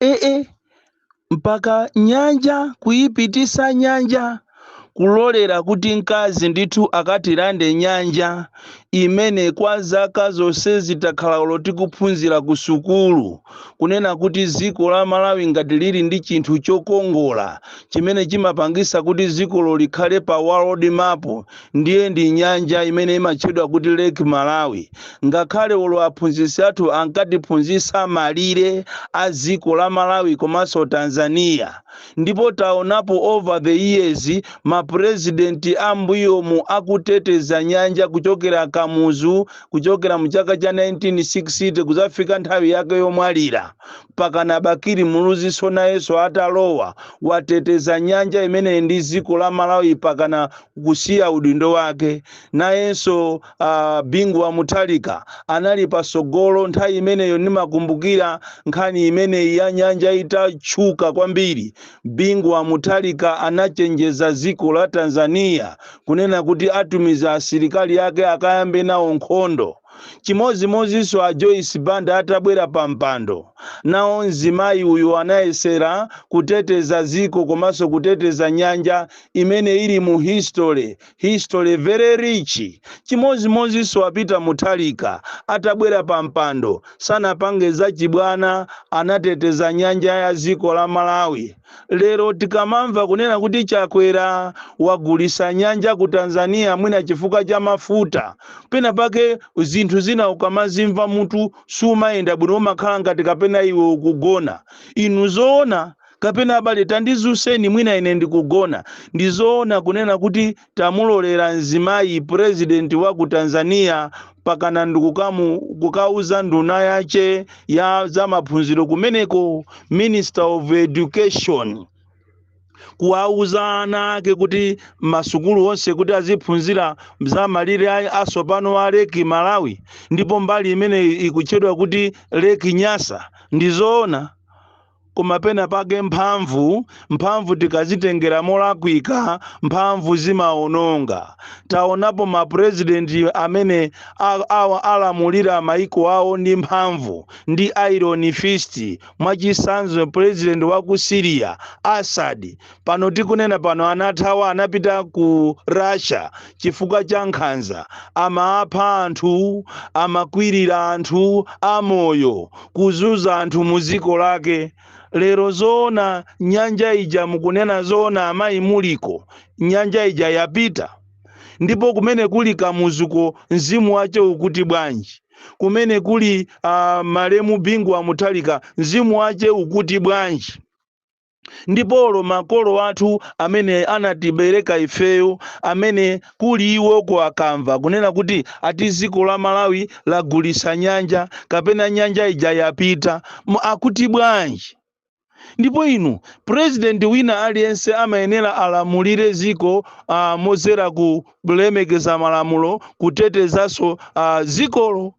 eh, mpaka nyanja kuyipitisa nyanja kulolera kuti mkazi ndithu akatilande nyanja imene kwa zaka zonse zi takhala olo tikuphunzira ku sukulu kunena kuti dziko la malawi ngati lili ndi chinthu chokongola chimene chimapangisa kuti dzikolo likhale pa world map ndiye ndi nyanja imene imatchedwa kuti lake malawi ngakhale olo aphunzitsi athu ankatiphunzitsa malire a dziko la malawi komanso tanzania ndipo taonapo over the years mapurezidenti ambuyomu akuteteza nyanja kuchokera kamuzu kuchokera mu chaka cha 1960 kuzafika nthawi yake yomwalira mpakana bakili muluziso nayenso atalowa wateteza nyanja imeneyi ndi dziko la malawi pakana kusiya udindo wake. Nayenso uh, Bingu wa Mutharika anali patsogolo nthawi imeneyo. Nimakumbukira nkhani imeneyi ya nyanja itatchuka kwambiri, Bingu wa Mutharika anachenjeza dziko la Tanzania kunena kuti atumiza asilikali ake akayambe nawo nkhondo. Chimodzimodzinso a Joyce Banda atabwera pa mpando, nawo mzimayi uyu anayesera kuteteza dziko komanso kuteteza nyanja imene ili mu history, history very rich. Chimodzimodzinso a Peter Mutharika atabwera pa mpando, sanapange zachibwana, anateteza nyanja ya dziko la Malawi. Lero tikamamva kunena kuti Chakwera wagulisa nyanja ku Tanzania mwina chifukwa cha mafuta, pena pake zinthu zina ukamazimva mutu sumayenda bwino umakhala ngati kapena iwe ukugona. Inu zoona? Kapena abale tandizuseni mwina ine ndikugona. Ndizoona kunena kuti tamulolera mzimayi president wa ku Tanzania pakana ndikukamu kukauza nduna yache ya za maphunziro kumeneko Minister of Education kuwauza ana ake kuti masukulu onse kuti aziphunzira za malire a- asopano a leki malawi ndipo mbali imene ikutchedwa kuti leki nyasa ndizoona Koma pena pake mphamvu, mphamvu tikazitengera molakwika, mphamvu zimaononga. Taonapo ma president amene a, a, alamulira maiko awo ndi mphamvu, ndi iron fist. Mwachisanzo president wa ku Syria, Assad, pano tikunena pano anathawa anapita ku russia chifukwa cha nkhanza amapha anthu amakwirira anthu amoyo kuzunza anthu mu dziko lake lero zoona nyanja ija mukunena zoona amayi muliko nyanja ija yapita ndipo kumene kuli kamuzuko mzimu wache ukuti bwanji kumene kuli uh, malemu bingu wa mutharika mzimu wache ukuti bwanji ndipo olo makolo athu amene anatibereka ifeyo amene kuli iwoko akamva kunena kuti ati dziko la malawi lagulitsa nyanja kapena nyanja ija yapita akuti bwanji ndipo inu president wina aliyense amayenera alamulire dziko uh, modzera kulemekeza malamulo kutetezanso uh, dzikolo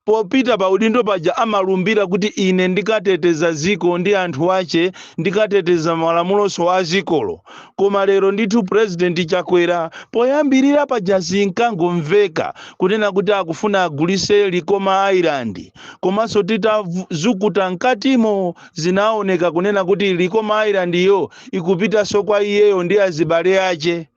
Popita pa udindo paja amalumbira kuti ine ndikateteza dziko ndi anthu ache ndikateteza malamulonso a dzikolo. Koma lero ndithu president Chakwera poyambirira paja zinkangomveka kunena kuti akufuna agulitse Likoma Island komanso titazukuta mkatimo zinaoneka kunena kuti Likoma Island-yo ikupitanso kwa iyeyo ndi azibale ache.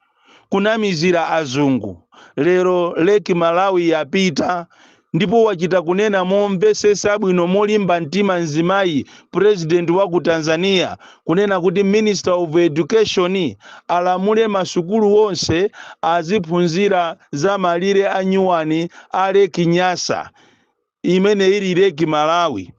kunamizira azungu lero lake malawi yapita ndipo wachita kunena momvetsetsa bwino molimba mtima mzimayi president wa ku tanzania kunena kuti minister of education alamule masukulu onse aziphunzira za malire a nyuwani a lake nyasa imene ili lake malawi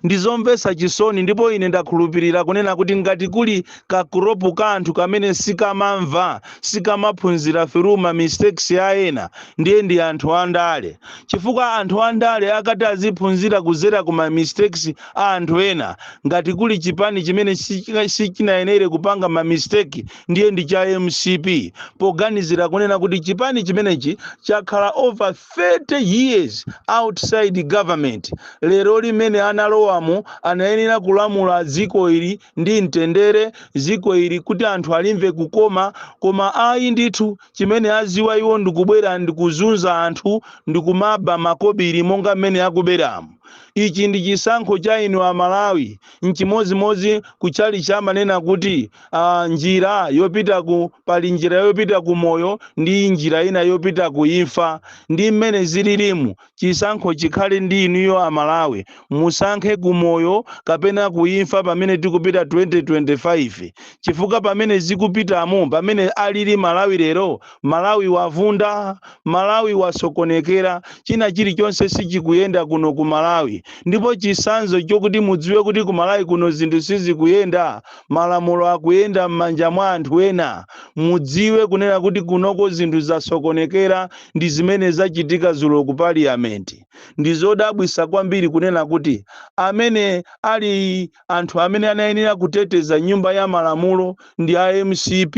Ndi zomvetsa chisoni, ndipo ine ndakhulupirira, kunena kuti ngati kuli ka crop ka anthu kamene sikamamva, sikamaphunzira through ma mistakes a ena, ndiye ndi anthu a ndale. Chifukwa anthu a ndale akati aziphunzira kudzera ku ma mistakes a anthu ena, ngati kuli chipani chimene sichinayenere kupanga ma mistake, ndiye ndi cha mcp, poganizira kunena kuti chipani chimenechi chakhala over 30 years outside government lero li mmene analowamo anayenera kulamula dziko ili ndi mtendere dziko ili kuti anthu alimve kukoma koma ayi ndithu chimene adziwa iwo ndikubwera ndikuzunza anthu ndikumaba makobiri monga mmene akuberamo ichi ndi chisankho cha inu amalawi Nchimodzimodzi ku chalichi amanena kuti uh, njira yopita ku pali njira yopita ku moyo ndi njira ina yopita ku imfa. Ndi mmene zililimu, chisankho chikhale ndi inuyo Amalawi, musankhe ku moyo kapena ku imfa pamene tikupita 2025 chifukwa pamene zikupitamo, pamene alili Malawi lero Malawi wavunda, Malawi wasokonekera, china chilichonse sichikuyenda kuno ku Malawi ndipo chisanzo chokuti mudziwe kuti ku Malawi kuno zinthu sizikuyenda, malamulo akuyenda mmanja mwa anthu ena, mudziwe kunena kuti kunoko zinthu zasokonekera ndi zimene zachitika zulo ku Parliament. Ndizodabwisa kwambiri kunena kuti amene ali. anthu amene anayenera kuteteza nyumba ya malamulo ndi a mcp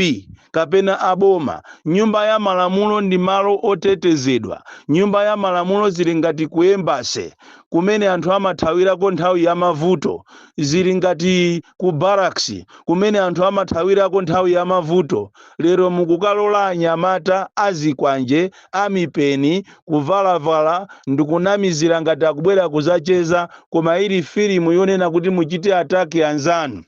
kapena a boma? Nyumba ya malamulo ndi malo otetezedwa. Nyumba ya malamulo zili ngati ku embassy kumene anthu amathawirako nthawi ya mavuto. Zili ngati ku barracks kumene anthu amathawirako nthawi ya mavuto. Lero mukukalola anyamata azikwanje a mipeni, kuvalavala, ndikunamizira ngati akubwera kuzacheza koma ili filimu yonena kuti muchite attack anzanu.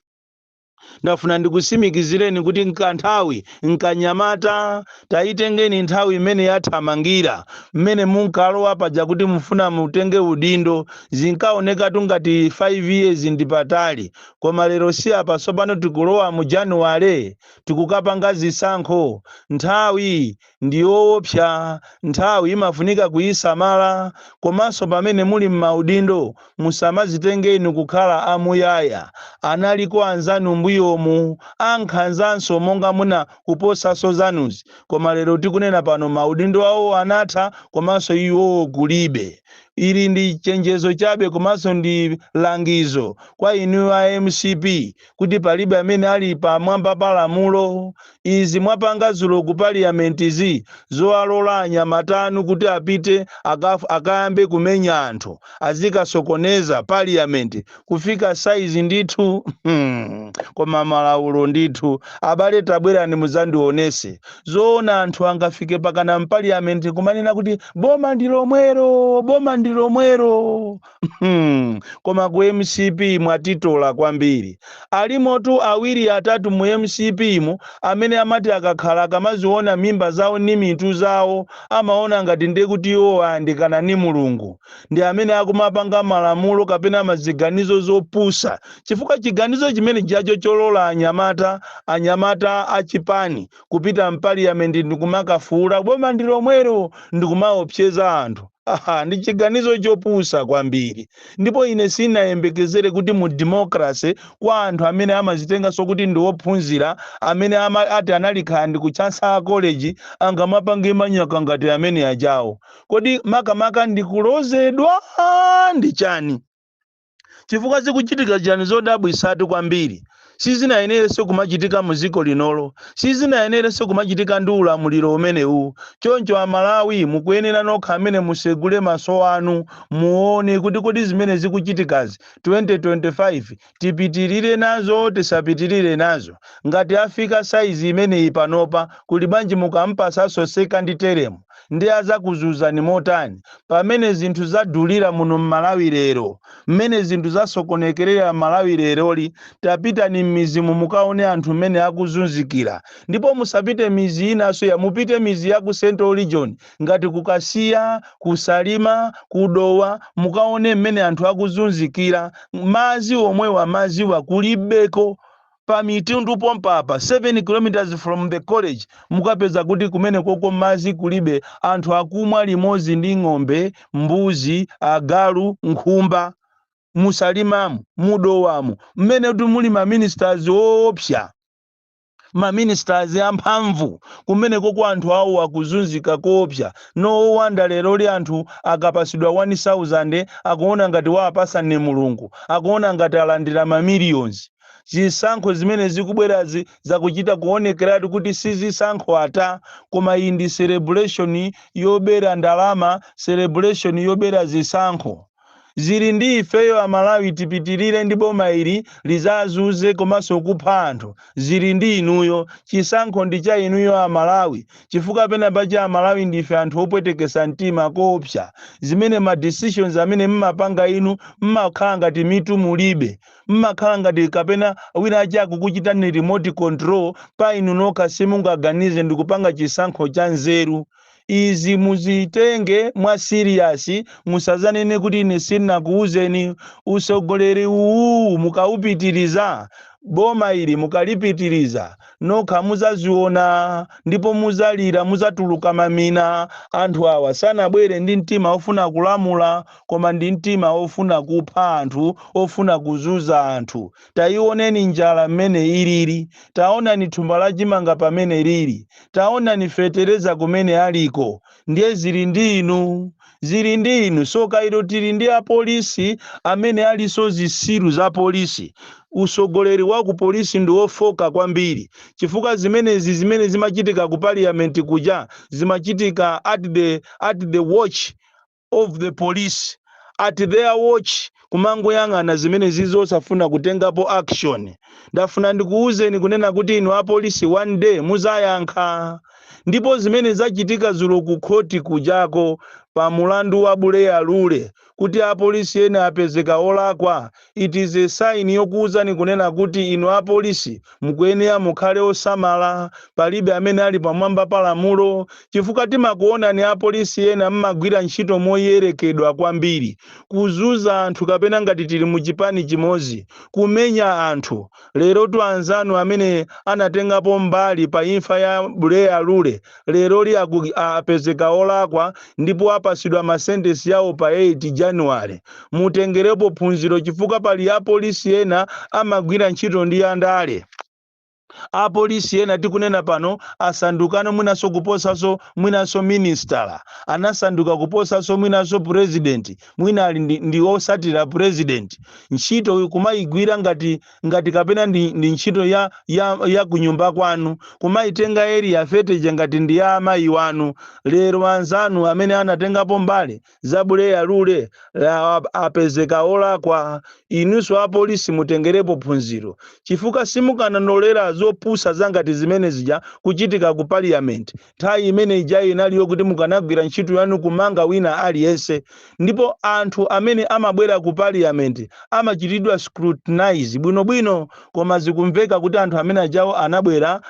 Ndafuna ndikusimikizireni kuti nkanthawi nkanyamata, tayitengeni nthawi imene yathamangira, mmene munkalowa paja kuti mufuna mutenge udindo, zinkaonekatu ngati 5 years ndipatali koma lero si apa tsopano tikulowa mu January tikukapanga zisankho, nthawi ndi yoopsa, nthawi imafunika kuisamala, komanso pamene muli m'maudindo musamadzitenge inu kukhala a muyaya, analiko anzanu mbuyomu ankhanzanso monga muna kuposanso zanuzi koma lero tikunena pano maudindo awo anatha komanso iwowo kulibe. Ili ndi chenjezo chabe komanso ndi langizo kwa inuyo a mcp. kuti palibe amene ali pamwamba pa lamulo. Izi mwapanga dzulo ku parliament'zi zowalola anyamata anu kuti apite akayambe kumenya anthu azikasokoneza parliament kufika size ndithu koma malaulo ndithu abale tabwerani mudzandionese zoona anthu angafike pakana mpaliyamenti kumanena kuti boma ndi lomwero boma ndi lomwero Hmm, koma ku mcp mwatitola kwambiri. Alimotu awiri atatu mu mcp mu amene amati akakhala akamaziona mimba zawo ni mitu zawo amaona ngati ndekuti iwo ayandikana ni Mulungu. Ndi amene akumapanga malamulo kapena maziganizo zopusa chifukwa chiganizo chimene chijacho cholola anyamata anyamata a chipani kupita mpaliyamenti ndikumakafuula boma ndilomwero ndikumaopseza anthu. Ha-ha, ndi chiganizo chopusa kwambiri. Ndipo ine sinayembekezere kuti mu democracy, kwa anthu amene amazitenganso kuti ndi ophunzira, amene ati anali kaya ndi ku Chancellor College, angamapange manyaka ngati amene ajawo. Kodi makamaka ndi kulozedwa? Ndi chani? chifukwa zikuchitika chani zodabwisatu kwambiri sizinayenerenso kumachitika mu dziko linolo sizinayenerenso kumachitika ndi ulamuliro umenewu choncho amalawi mukuyenera nokha amene musegule maso anu muone kuti kodi zimene zikuchitikazi 2025 tipitirire nazo tisapitirire nazo ngati afika saizi imeneyi panopa kuli bwanji mukampasaso second term ndi azakuzuzani motani pamene zinthu zadulira muno mmalawi lero, mmene zinthu zasokonekerera mmalawi leroli, tapitani mmidzimu mukaone anthu mmene akuzunzikira ndipo musapite midzi inanso ya mupite midzi ya ku central region ngati ku kasiya, ku salima, ku dowa mukaone mmene anthu akuzunzikira madzi omwewa madziwo kulibeko pa mitundu pompa apa 7 kilometers from the college mukapeza kuti kumenekoko madzi kulibe anthu akumwa limodzi ndi ng'ombe mbuzi agalu nkhumba musalimamu mudowamu mmene kuti muli ma ministers oopsa ma ministers amphamvu kumenekoko anthu awo akuzunzika koopsa no wonder leroli anthu akapasidwa 1000 akuona ngati waapasa ndi mulungu akuona ngati alandira ma millions Zisankho zimene zikubwerazi zakuchita kuonekeratu kuti si zisankho ata, koma iyi ndi celebration yobera ndalama, celebration yobera zisankho. Zili ndi ifeyo a Malawi tipitilire ndi boma ili lizazuze komanso kupha anthu, zili ndi inuyo. Chisankho ndi cha inuyo a Malawi, chifukwa pena pache a Malawi ndife anthu opwetekesa mtima koopsa, zimene ma decisions amene mmapanga inu mmakhala ngati mitu mulibe. Mmakhala ngati kapena wina ache akukuchitani remote control pa inu nokha simungaganize ndikupanga chisankho cha nzeru. Izi muzitenge mwa serious musazanene kuti ine sinakuuzeni. Utsogoleri uwu mukawupitiriza, boma ili mukalipitiriza, nokha muzaziona ndipo muzalira, muzatuluka mamina. Anthu awa sanabwere ndi mtima ofuna kulamula koma ndi mtima ofuna kupha anthu, ofuna kuzuza anthu. Taioneni njala mmene ilili. Taonani thumba la chimanga pamene lili. Taonani fetereza kumene aliko. Ndiye zili ndi inu. Zili ndi inu. Tsoka ilo tili ndi apolisi amene alinso zitsiru za polisi. Utsogoleri wa ku polisi ndi ofooka kwambiri chifukwa zimenezi zimene zimachitika ku parliament kuja zimachitika at the at the watch of the police at their watch kumangoyang'ana zimenezi osafuna kutengapo action ndafuna ndikuwuzeni kunena kuti inu apolisi one day muzayankha ndipo zimene zachitika zulo ku khoti kujako pa mulandu wa buleya lule kuti apolisi ena apezeka olakwa It is a sign yokuuzani kunena kuti inu apolisi mukuyenera mukhale osamala, palibe amene ali pamwamba pa lamulo, chifukwa timakuonani apolisi ena mmagwira ntchito moyerekedwa kwambiri, kuzuza anthu kapena ngati tili muchipani chimodzi, kumenya anthu, Lerotu anzanu amene anatengapo mbali pa imfa ya Buleya Lule leroli a, apezeka olakwa ndipo apasidwa ma sentence yawo pa 8 January. Mutengerepo phunziro chifukwa pali apolisi ena amagwira ntchito ndi a ndale. Apolisi ena tikunena pano asandukano mwinanso kuposanso mwinanso minister, anasanduka kuposanso mwinanso president. mwina ali ndi, ndi osatira president ntchito kumayigwira ngati ngati kapena ndi, ndi ntchito ya, ya, ya kunyumba kwanu kumayitenga area thirty ija ngati ndi ya amayi wanu lero anzanu amene anatengapo mbali za buleya lule la- apezeka olakwa inunso apolisi mutengerepo phunziro chifukwa simukananolera zopusa zangati zimene zija kuchitika ku parliament Nthawi imene ijayi inali yokuti mukanagwira ntchito yanu kumanga wina aliyense, ndipo anthu amene amabwera ku parliament amachitidwa scrutinize bwino bwino, koma zikumveka kuti anthu amene ajawo anabwera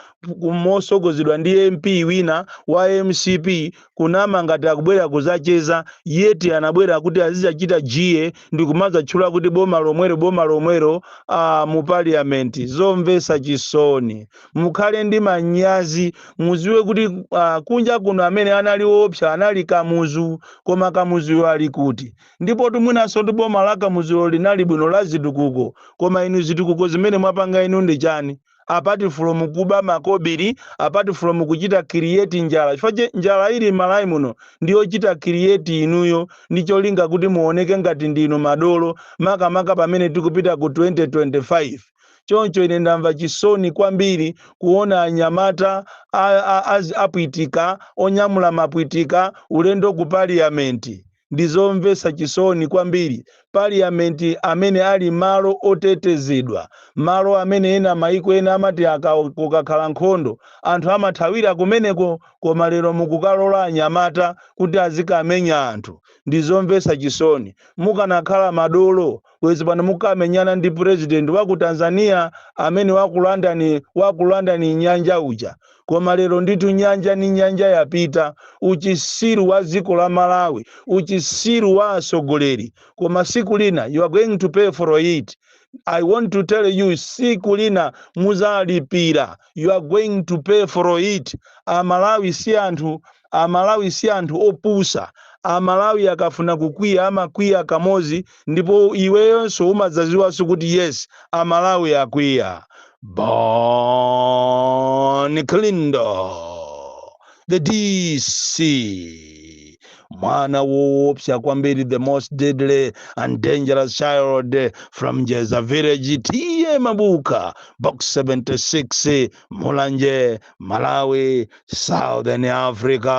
mosogozedwa ndi MP wina wa mcp kunama ngati akubwera kuzacheza yet anabwera kuti azizachita jie ndikumazatchula kuti boma lomwero boma lomwero aah mu parliament. Zomvesa chisoni. mukhale ndi manyazi muziwe kuti uh, kunja kuno amene anali woopsa anali kamuzu koma kamuzuyo ali kuti ndipotu mwinanso ndi boma la kamuzulo linali bwino la zitukuko koma inu zitukuko zimene mwapanga inu ndi chani apart from kuba makobiri apart from kuchita create njala chifukwa che njala ili m'Malawi muno ndiyochita create inuyo ndi cholinga kuti muoneke ngati ndinu madolo makamaka pamene tikupita ku 2025 Choncho ine ndamva chisoni kwambiri kuona anyamata a, a, a, apwitika onyamula mapwitika ulendo ku paliyamenti. Ndi zomvesa chisoni kwambiri. Paliyamenti amene ali malo otetezedwa, malo amene ena maiko ena amati aka, kukakhala nkhondo anthu amathawira kumeneko, koma lero mukukalola anyamata kuti azikamenya anthu. Ndi zomvesa chisoni. Mukanakhala madolo bwezi pano mukamenyana ndi president wa ku tanzania amene wakulanda wakulandani nyanja uja koma lero ndithu nyanja ni nyanja yapita uchisiru wa dziko la malawi uchisiru wa atsogoleri koma siku lina you are going to pay for it i want to tell you siku lina muzalipira you are going to pay for it amalawi si anthu Amalawi si anthu opusa. Amalawi akafuna kukwiya amakwiya kamozi ndipo iweyonso umadzaziwanso kuti yes amalawi akwiya. Bon Kalindo the DC mwana woopsa kwambiri the most deadly and dangerous child from Jeza village TA Mabuka box 76 mulanje malawi southern africa